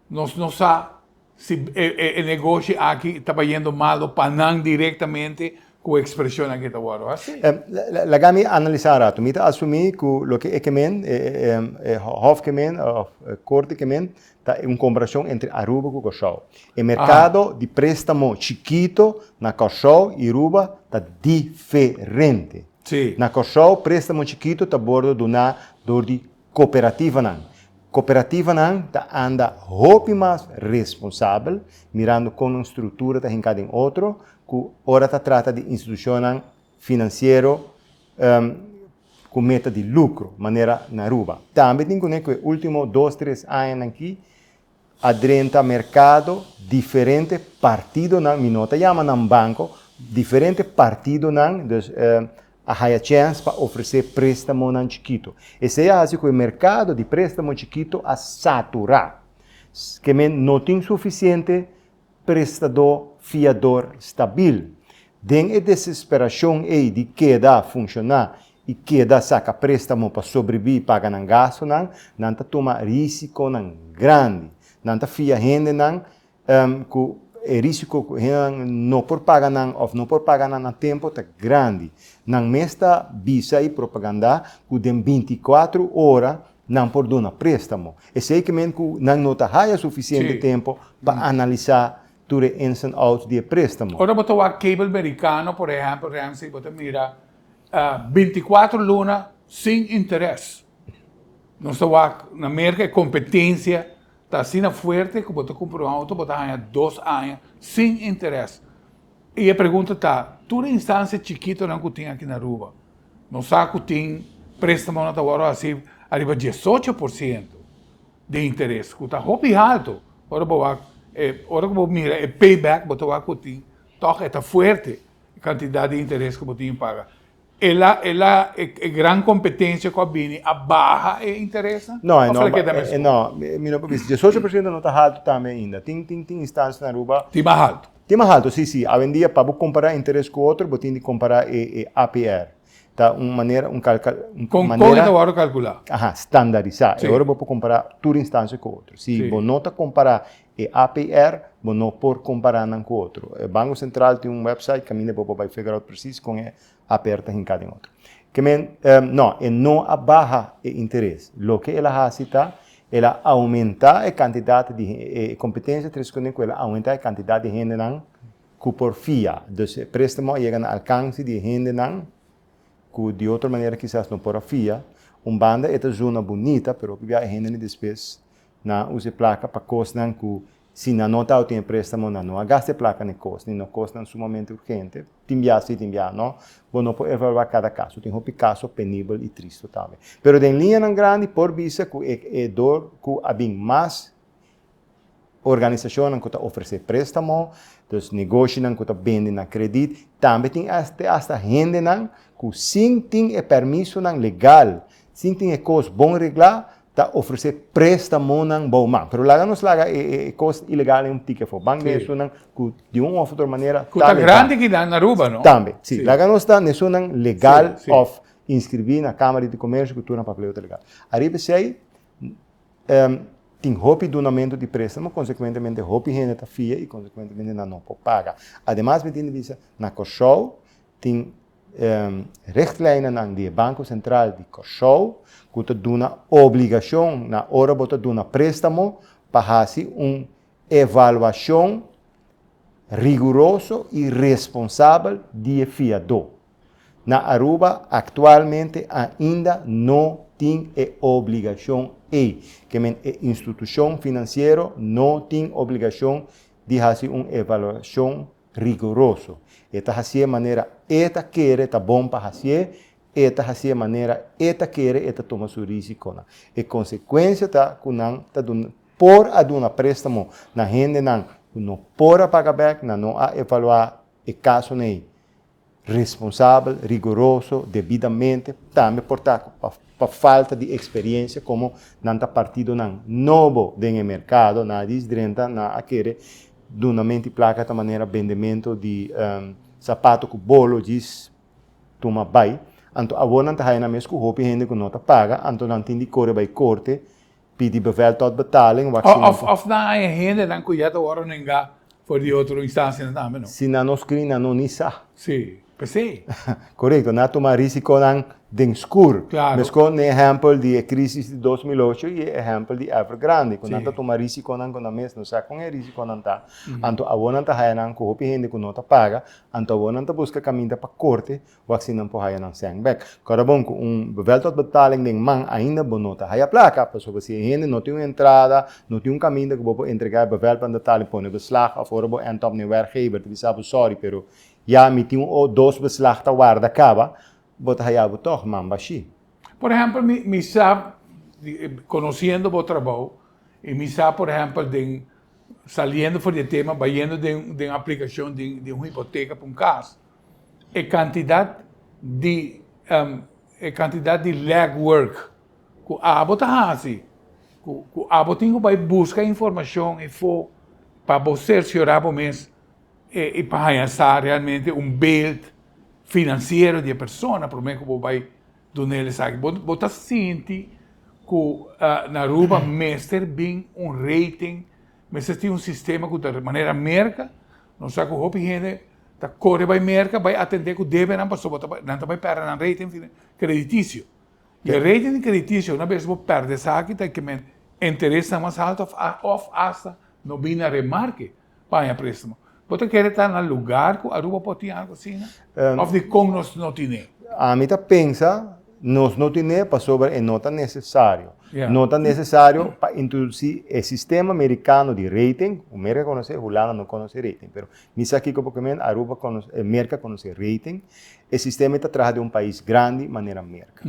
nos no sa si e negoshi aki ta bayendo malo pa nan direktamente ku e ekspresion aki ta wòrdu hasi. Laga mi analisá un ratu. Mi ta asumí ku loke e kemen, e hòf kemen òf e korte kemen ta un komparashon entre Aruba ku Kòrsou. E merkado di préstamo chikitu na Kòrsou i Aruba ta diferente. Na Kòrsou préstamo chikitu ta wòrdu duná dor di Cooperativanan. Cooperativanan ta anda hopi mas responsabel, mirando con un structura ta hinca den otro, cu ora ta trata di institucionnan financiero cu meta di lucro, manera na Aruba. Tambe tin cun'e cu e ultimo dos, tres añanan aki A drenta merkado diferente partidonan, mi no ta yama nan banko, diferente partidonan, dus a haya chèns pa ofresé préstamonan chikitu. Esei a hasi ku e merkado di préstamo chikitu a saturá. Ke men no tin sufisiente. prestadó fiador stabil. Den e desesperashon ei di keda funshoná i keda saka préstamo pa sobrebiví i paga nan gastunan, nan ta tuma rísikonan grandi. Nan ta fia hendenan ku e rísiko ku hendenan no por paga nan òf no por paga nan na tempu ta grandi. Nan mes ta bisa e propagandá ku den binti kuatru ora nan por duna préstamo, esei ke men ku nan no ta haya sufisiente Sí. tempu pa analisá tur e ins en outs di e préstamo. Ora bo ta wak cable merikano, por ehèmpel, Ramsey, bo ta mira binticuatro luna sin interes. Nos ta wak na Merka e kompetensia ta asina fuerte ku bo ta kumpra un outo, bo ta haña dos aña sin interes. Y e pregunta ta, tur e instancia chikitonan cu tin aki na Aruba, nos sa cu tin prestamonan ta wordo haci ariba diesocho por ciento di interes, cu ta hopi halto. Ora bo wak, e, ora cu bo mira e payback, bo ta wak cu tin, toch e ta fuerte e cantidad di interes cu bo tin paga. Ela ela e e gran competencia cu a bini a baha e interesnan? No, e Of no ela ba- keda e- e mesmo? no, mi, mi no por bisa. 18 por ciento no ta halto tambe ainda. Tin, tin, tin instancias na Aruba, Tin mas alto. tin mas halto, sí, sí. Awendia pa bo compara e interes cu otro, bo tin di compara e, e APR. Ta un manera, un cal, cal, un Con, con e manera, ta worde calcula? aha, standarisá. Sí. E ora bo por compara tur instancia cu otro. Si Sí. bo no ta compara E APR, bo no por compará nan cu otro. E Banco Central tin un website caminda bo por bay figure out precies con e APR ta hincá den otro. Ke men, no, e no a baha e interes. Loke el a haci ta el a aumentá e cantidad di, e competencia ta responde cu el a aumentá e cantidad di hendenan cu por fia. Dus e préstamo a yega na alcance di e hendenan cu di otro manera kisas no por a fia. Un banda e ta zona bunita pero hopi bia e hende despues. na usa e plaka pa kosnan ku si nan no tabata tene préstamo nan no a gasta e plaka na e kos, ni na kosnan sumamente urgente. Tin bia sí, tin bia no. Bo no por evaluá kada kaso. Tin hopi kaso penibel i tris totalmente. Pero den liñanan grandi por bisa ku e e dor ku a bin mas organisashonnan ku ta ofresé préstamo, dus negoshinan ku ta bende na kredit, tambe tin te asta hendenan ku sin tin e permisonan legal, sin tin e kos bon reglá, ta ofrece prestamonan bou man. Pero laga nos laga e e e cos ilegalnan un tiki afo. Bank den Sí. esunnan cu di un of otro manera Cu ta ta legal. grandi ki nan Aruba, no? Tambe, si. Sí. Laga nos ta nesunnan legal Sí, sí. of inscribí na Camara di Comercio cu tur nan papeleo ta legal. Ariba esey, em, tin hopi dunamento di prestamo, consecuentemente hopi hende ta fia y consecuentemente nan no por paga. Ademas mi tin di bisa, na Corsou, tin richtlijnennan di e Banco Central di Kòrsou ku ta duna obligashon na ora bo ta duna préstamo pa hasi un evaluashon riguroso i responsabel di e fiadó. Na Aruba aktualmente ainda no tin e obligashon ei, ke men e institushon finansiero no tin obligashon di hasi un evaluashon riguroso. E ta hasié manera E ta kere ta bon pa hasié, E ta hasié manera E ta kere, E ta tuma su rísikonan. E konsekuensia ta ku nan ta por a duna préstamo na hendenan ku no por a paga bèk, nan no a evaluá e kasonan ei. Responsabel, riguroso, debidamente, tambe por ta cu pa, pa falta di experiencia como nan ta partidonan nobo den e mercado, nan a dici drenta nan a kere duna menti placa ta manera bendemento di sapato cu bolo djis tuma bay, anto awor nan ta haya nan mes cu hopi hende cu no ta paga, anto nan tin di core bay corte. Pidi bevel tot betaling wak si nan ta. Of nan a e hendenan ku ya ta wòrdu nengá for di otro instansianan tambe no. Si nan no skri nan no ni sa. Sí, p'esei. Korekto, nan a tuma risikonan den skur. Klaro. Meskos n'e ehèmpel di e krisis di dos mil ocho i e ehèmpel di Evergrande ku nan ta tuma risikonan ku nan mes no sa kon e risikonan ta, anto awor nan ta haya nan ku hopi hende ku no ta paga, anto awor nan ta buska kaminda pa korte Waksinan por haya nan sèn bèk. Kòrda bon ku un weltochtbetaling den man ainda bo no ta haya plaka, pasobra si e hende no tin un entrada, no tin un kaminda ku bo por entregá e welplanbetaling, pone beslag òf ora bo ènta òf na e wèrkgeber ta bisa bo sòri pero ya mi tin un dos beslag ta warda kaba, bo ta haya bo tòg man bashí. Por ehèmpel mi mi sa, konosiendo bo trabou i mi sa por ehèmpel den saliendo for di e tema, bayendo den aplikashon di un hipoteka pa un kas, E kantidat di e kantidat di leg work ku abo ta hasi, ku ku abo tin ku bai buska informashon i fo pa bo sersiorá bo mes i pa haña sa realmente un beeld finansiero di e persona promé ku bo bai dun'é el esaki. Bo bo ta sinti ku na Aruba mester bin un rating, mester tin un sistema ku ta manera Merka, nos sa ku hopi hende, ta kore bai Merka bai atendé ku debenan pasobra ta bai nan ta bai pèrdè nan rating kreditisio. I e rating kreditisio una bes bo pèrdè esaki ta ke men interesnan mas haltu òf a òf asta no bini na remarke pa haña préstamo. Bo ta kere ta na lugar ku Aruba por tin algu asina? Òf dikon nos no tin'é? Ami ta pensa nos no tin'é pasobra e no ta nesesario. Ya. No ta nesesario pa introdusí e sistema merikano di rating, ku Merka konos'é, Hulanda no konos'é rating pero Mi sa kiko porque mi en Aruba conoce, en Merca conoce rating. E sistema e ta traha den un pais grandi manera Merca.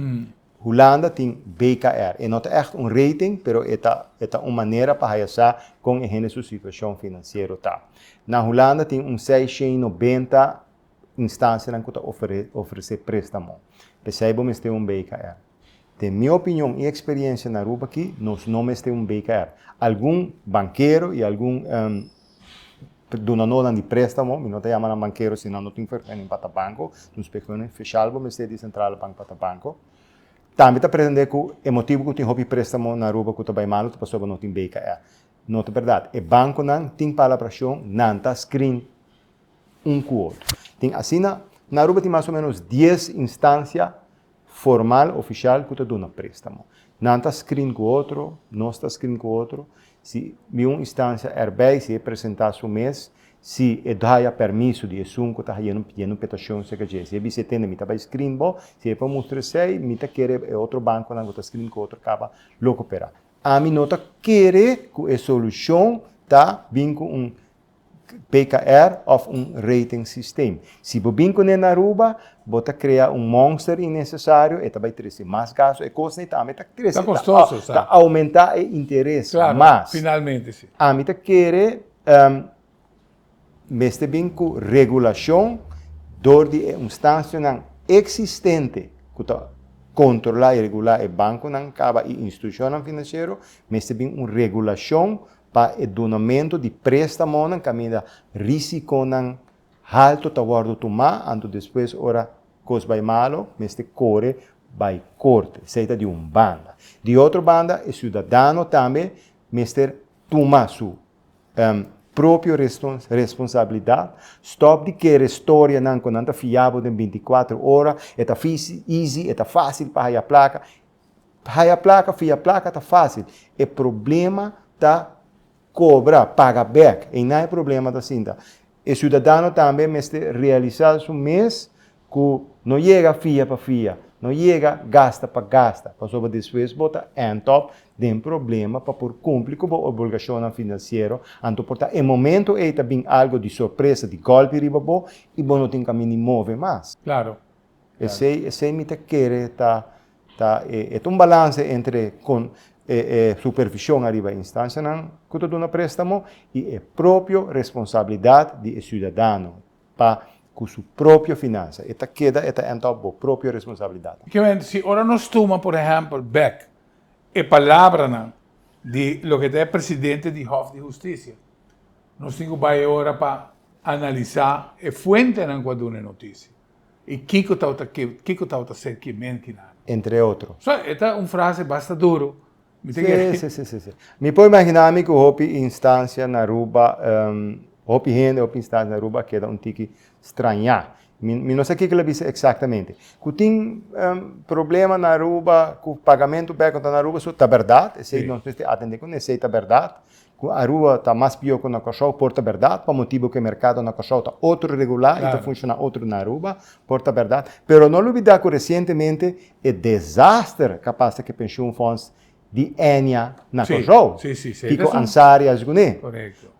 Hulanda tin BKR. E no ta echt un rating, pero e ta, e ta un manera pa haya sa con e hende su situacion financiero ta. Na Hulanda tin un sei shen i nobenta instancianan cu ta ofrece prestamo. Pesey bo mester un BKR. Den mi opinion y experiencia na Aruba aki nos no mester un BKR. Algun bankero y algun dunanonan di prestamo, mi no ta yama nan bankero si nan no tin vergunning pa ta banco, nos vergunning special bo mester di Centrale Bank pa ta banco. Tambe ta pretende cu e motibo cu tin hopi prestamo na Aruba cu ta bay malo ta pasobra no tin BKR. No ta berdad. E banconan tin palabracion, nan ta screen un cu otro. Tin asina, na Aruba tin mas o menos dies instancia, formal, ofishal ku ta duna préstamo. Nan ta skrin ku otro, nos ta skrin ku otro. Si mi un istansia erbei, si e presentá su mes, si e daya permiso di esun ku ta haiendo pidendo un petashon serka dje. Si e bisa e tende mi ta bai skrin bo, si e por mustra esei, mi ta kere e otro bankonan ku ta skrin ku otro kaba lo koperá. Ami no ta kere ku e solushon ta bin ku un PKR of un rating system. Si bo bin kuné na Aruba, bo ta krea un monster innesesario, e ta bai trese mas gasto, e kosnan e ta ami ta trese, ta oumentá e interes mas. Ami ta kere mester bin ku regulashon dor di e unstansionan eksistente ku ta kontrolá i regulá e bankonan kaba i institushonnan finansiero, mester bin un regulashon Pa e dunamentu di préstamonan kaminda rísikonan haltu ta wòrdu tumá anto despues ora kos bai malu mester kore bai korte. Esei ta di un banda. Di otro banda e siudadano tambe mester tuma su propio responsabilidat, stòp di kere storianan ku nan ta fiabo den binti kuater ora, e ta izi, e ta fásil pa haya plaka. Ta haya plaka, fia plaka ta fásil. E problema ta kobra, paga bèk. Einan e problema ta sinta. E siudadano tambe mester realisá su mes ku no yega fia pa fia, no yega gasta pa gasta, pasobra despues bo ta ènt òp den problema pa por kumpli ku bo obolgashonnan finansiero. Anto por ta e momentu ei ta bin algu di sorpresa, di gòlpi riba bo i bo no tin kaminda move mas. Klaro. Esey esey mi ta kere ta ta e e ta un balanse entre con e e supervision ariba e instancianan cu ta duna prestamo y e propio responsabilidad di e ciudadano pa cu su propio financia e ta keda e ta end up bo propio responsabilidad. Kiberen si ora nos tuma por ehempel bek e palabranan di loke ta e presidente di Hof di Husticia nos tin cu bay ora pa analisa e fuentenan cu a duna e noticia. Y kiko tawata ke, kiko tawata ser ke menti na. Entre otro. So, e ta un frase basta duro. Mi ta kere. Sí, sí, sí, sí. Mi por imagina mi ku hopi instancia na Aruba, hopi hende, hopi instancia na Aruba a keda un tiki strañá. Mi, mi no sa kiko el a bisa exactamente. Ku tin problema na Aruba ku pagamento bek, unda na Aruba, so, ta berdad. Esei nos mester atende ku esei ta berdad. Cu Aruba ta mas pior cu na Corsow por ta berdad, pa motibo cu e mercado na Corsow ta otro regular y ta funciona otro na Aruba, por ta berdad. Pero no lubida cu recientemente e desaster ca pasa cu e pensioenfonds di Enia na Corsow, Kiko Ansari y alsgunen,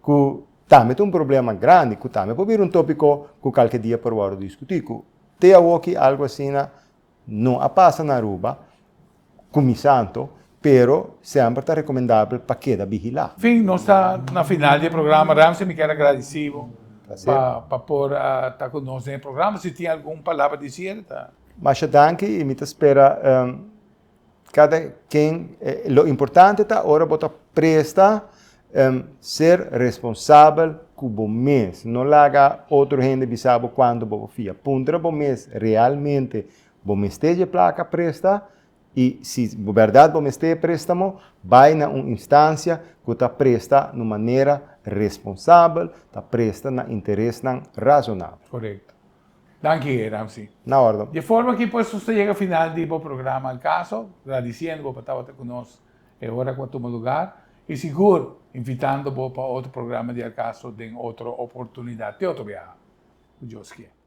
cu tambe ta un problema grandi, cu tambe por bira un topico cu calke dia por worde discuti, cu te awoki algo asina No a pasa na Aruba ku Misanto, pero semper ta rekomendabel pa keda bihilá. Fin, nos ta na final di e programa. Ramsey mi kier agradisí bo pa por a ta ku nos den e programa. Si tin algun palabra di siere ta. Masha danki i mi ta spera. Kada ken, lo importante ta ora bo ta presta ser responsabel ku bo mes. No laga otro hende bisa bo kuantu bo por fia. Puntra bo mes, realmente bo mester dje plaka presta? I si bo bèrdat bo mester e préstamo, bai na un instancia ku ta presta na un manera responsabel, ta presta na interesnan razonabel. Korekto. Danki Hei Ramsey. Na ordo. Dje forma ki pues nos ta yega final di bo programa El Caso, gradisiendo bo pa tabata cu nos e ora cu a tuma lugar y sigur invitando bo pa otro programa di El Caso den otro oportunidad te otro biaha, cu Dios kier.